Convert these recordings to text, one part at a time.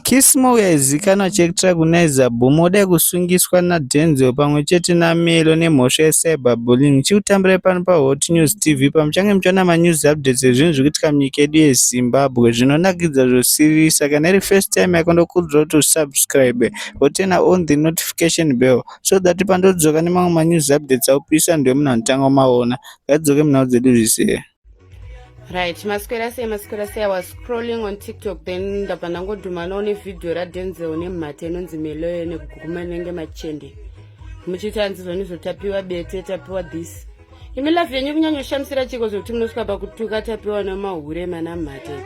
Kissmore yaizikanwa chektera kuNaiza Boom wadai kusungiswa naDenzel pamwe chete naMelo nemhosva yeCyberbullying. Ndichikutambirai pano paHot News TV pamuchange muchiwana manews updates ezvinhu zvikuitika munyika yedu yeZimbabwe zvinonakidza zvosiririsa. Kana iri first time yako ndokurudzira kuti usubscribe woturner on the notification bell so that pandodzoka nemamwe manews updates aupisa ndiwe munhu anotanga kumaona. Ngatidzoke munhau dzedu zvizere. right maswera sei maswera sei i was scrolling on tiktok then ndabva ndangodhumanawo nevhidhiyo radenzel nemhata inonzi meloyo nekuguma inenge machende muchiita hanzi zvoni zvotapiwa bete tapiwa this imi lafi yenyu kunyanyoshamisira chiko zvekuti munosvika pakutuka tapiwa namahure mana mhate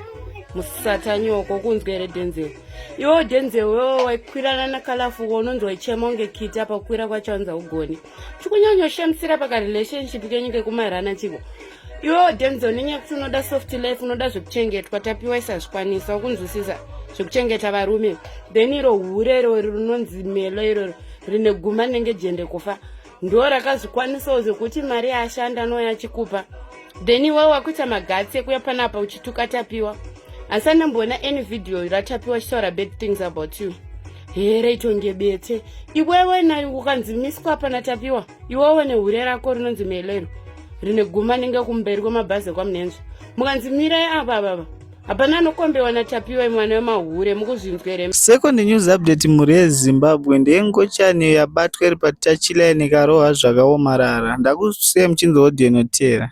musata nyoko kunzwa here denzel iwo denzel wewo waikwirana nakalafu unonzi waichema unge kiti apa kukwira kwacho anza ugoni chikunyanyoshemisira pakarelationship kenyu kekumairana chiko iwewo denzo nenyaya yekuti unoda soft life unoda zvekuchengetwa tapiwa isazvikwanisa ukunzwisisa zvekuchengeta varume then iro hure irori rinonzi melo irori rine guma rinenge jende kufa ndo rakazvikwanisawo zvekuti mari yaashanda anouya achikupa then iwe wakuita magatsi ekuya panapa uchituka tapiwa asi anemboona any video ratapiwa chitaura bad things about you here itonge bete iwewe nai ukanzimiswa pana tapiwa iwewe nehure rako rinonzi melero rine guma ninge kumberi kwemabhazi ekwamunenzva mukanzimirai ava avava hapana anokombewa natapiwa imwana wemahure mukuzvinzwere second news update mhuri yezimbabwe ndeyengochani yabatwa iri patachila yenekarohwa zvakaomarara ndakusiya muchinzi odyenotera